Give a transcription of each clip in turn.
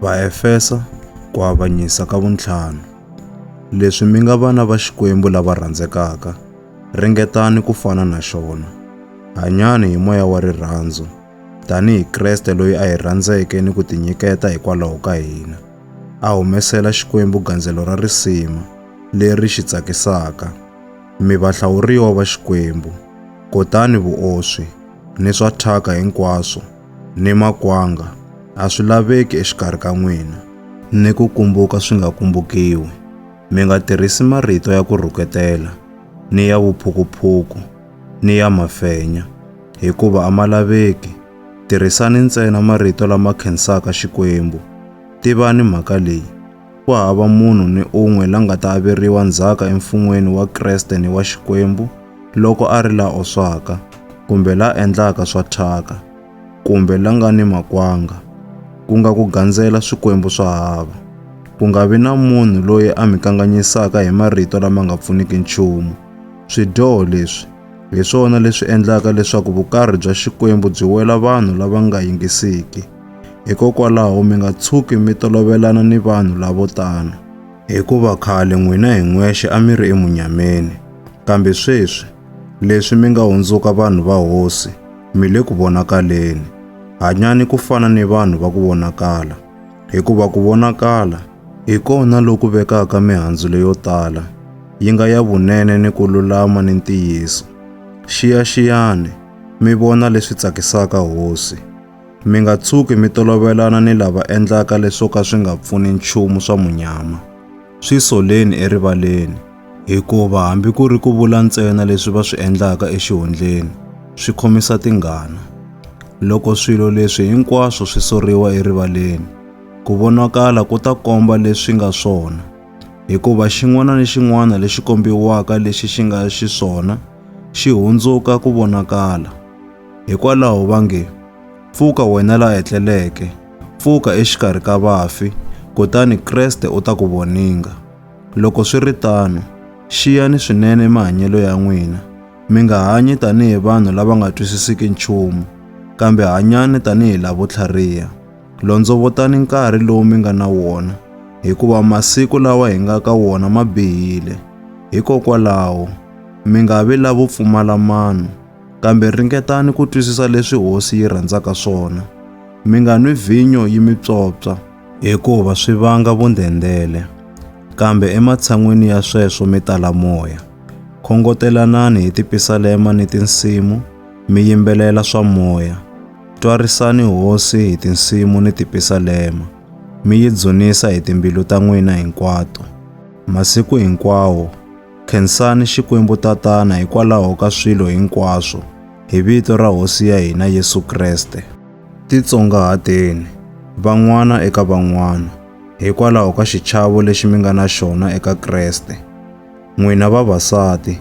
Vaefesa, ku avanyisa ka vuntlhanu. Leswi mi nga vana va Xikwembu lava rhandzekaka, ringetani ku fana na xona. Hanyani hi moya wa rirhandzu, tanihi Kreste loyi a hi rhandzeke ni ku tinyiketa hikwalaho ka hina, a humesela Xikwembu gandzelo ra risima leri xi tsakisaka. Mi vahlawuriwa va Xikwembu, kotani vuoswi ni swa thyaka hinkwaswo ni makwanga a swi laveki exikarhi ka n'wina, ni ku kumbuka swi nga kumbukiwi. Mi nga tirhisi marito ya ku rhuketela, ni ya vuphukuphuku, ni ya mafenya, hikuva a ma laveki. Tirhisani ntsena marito lama khensaka Xikwembu. Tivani mhaka leyi. Ku hava munhu ni un'we la nga ta averiwa ndzhaka emfun'weni wa Kreste ni wa Xikwembu loko a ri la oswaka, kumbe la endlaka swa thyaka, kumbe la nga ni makwanga, ku nga ku gandzela swikwembu swa hava. Ku nga vi na munhu loyi a mi kanganyisaka hi marito lama nga pfuniki nchumu. Swidyoho leswi Hi swona leswi endlaka leswaku vukarhi bya Xikwembu byi wela vanhu lava nga yingisiki. Hikokwalaho mi nga tshuki mi tolovelana ni vanhu lavo tano. Hikuva khale n'wina hi n'wexe a mi ri emunyameni, kambe sweswi, leswi mi nga hundzuka vanhu va Hosi, mi le ku vonakaleni. Hanyani ku fana ni vanhu va ku vonakala. Hikuva ku vonakala hi kona loku vekaka mihandzu leyo tala, yi nga ya vunene ni ku lulama ni ntiyiso. Xiyaxiyani, mi vona leswi tsakisaka Hosi. Mi nga tshuki mi tolovelana ni lava endlaka leswo ka swi nga pfuni nchumu swa munyama. Swi soleni erivaleni. Hikuva hambi ku ri ku vula ntsena leswi va swi endlaka exihundleni swi khomisa tingana. Loko swilo leswi hinkwaswo swi soriwa erivaleni, ku vonakala ku ta komba leswi nga swona, hikuva xin'wana ni xin'wana lexi kombiwaka lexi xi nga xiswona xi hundzuka ku vonakala. Hikwalaho va nge, Pfuka wena la etleleke, pfuka exikarhi ka vafi, kutani Kreste u ta ku voninga. Loko swi ri tano, xiyani swinene mahanyelo ya n'wina. Mi nga hanyi tanihi vanhu lava nga twisisiki nchumu, kambe hanyani tanihi lavo tlhariha. Londzovotani nkarhi lowu mi nga na wona, hikuva masiku lawa hi nga ka wona ma bihile. Hikokwalaho, mi nga vi lavo pfumala mano, kambe ringetani ku twisisa leswi Hosi yi rhandzaka swona. Mi nga nwi vhinyo yi mi psopsa, hikuva swi vanga vundhendele. Kambe ematshan'wini ya sweswo mi tala moya. Khongotelanani hi tipisalema ni tinsimu, mi yimbelela swa moya. Twarisani Hosi hi tinsimu ni tipisalema, mi yi dzunisa hi timbilu ta n'wina hinkwato. Masiku hinkwawo, khensani Xikwembu Tatana hikwalaho ka swilo hinkwaswo, hi vito ra Hosi ya hina Yesu Kreste. Titsongahateni, van'wana eka van'wana, hikwalaho ka xichavo lexi mi nga na xona eka Kreste. N'wina vavasati,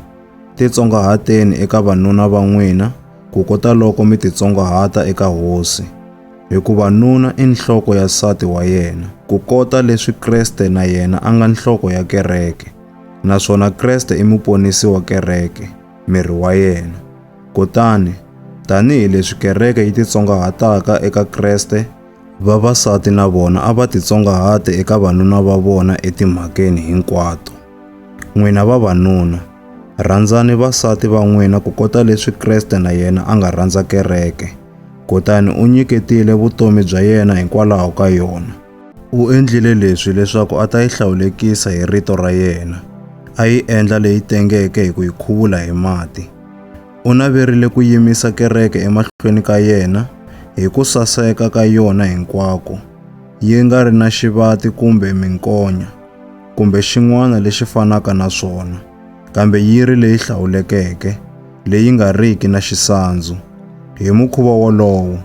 titsongahateni eka vanuna va n'wina, ku kota loko mi titsongahata eka Hosi. Hikuva nuna i nhloko ya nsati wa yena, ku kota leswi Kreste na yena a nga nhloko ya kereke, naswona Kreste i muponisi wa kereke, miri wa yena. Kutani, tanihi leswi kereke yi titsongahataka eka Kreste, vavasati na vona a va titsongahate eka vanuna va vona etimhakeni hinkwato. N'wina vavanuna, rhandzani vasati va n'wina ku kota leswi Kreste na yena a nga rhandza kereke, kutani u nyiketile vutomi bya yena hikwalaho ka yona. U endlile leswi leswaku a ta yi hlawulekisa hi rito ra yena, a yi endla leyi tengeke hi ku yi khuvula hi mati. U naverile ku yimisa kereke emahlweni ka yena hi ku saseka ka yona hinkwako, yi nga ri na xivati kumbe minkonya, kumbe xin'wana lexi fanaka na swona, kambe yi ri leyi hlawulekeke, leyi nga riki na xisandzu. Hi mukhuva wolowo,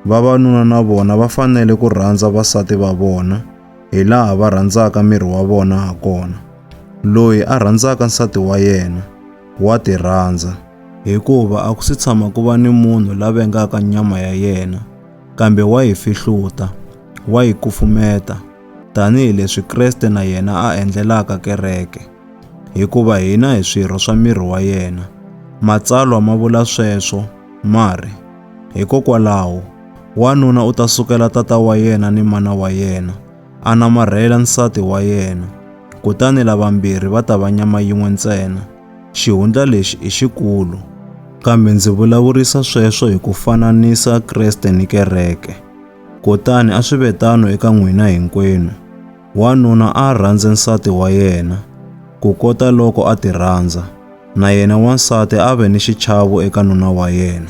Vavanuna na vona va fanele ku rhandza vasati va vona hi laha va rhandzaka miri wa vona ha kona. Loyi a rhandzaka nsati wa yena wa ti rhandza. Hikuva a ku si tshama ku va ni munhu la vengaka nyama ya yena, kambe wa yi fihluta, wa yi kufumeta, tanihi leswi Kreste na yena a endlelaka kereke. Hikuva hina hi swirho swa miri wa yena. Matsalwa ma vula sweswo, ma ri. Hikokwalaho, wanuna u ta sukela tata wa yena ni mana wa yena, a namarhela nsati wa yena, kutani lavambirhi va ta va nyama yin'we ntsena. Xihundla lexi i xikulu. Kambe ndzi vulavurisa sweswo hi ku fananisa Kreste ni kereke. Kutani a swi ve tano eka n'wina hinkwenu, Wanuna a a rhandze nsati wa yena, kukota loko a tirhandza, na yena wansati a a ve ni xichavo eka nuna wa yena.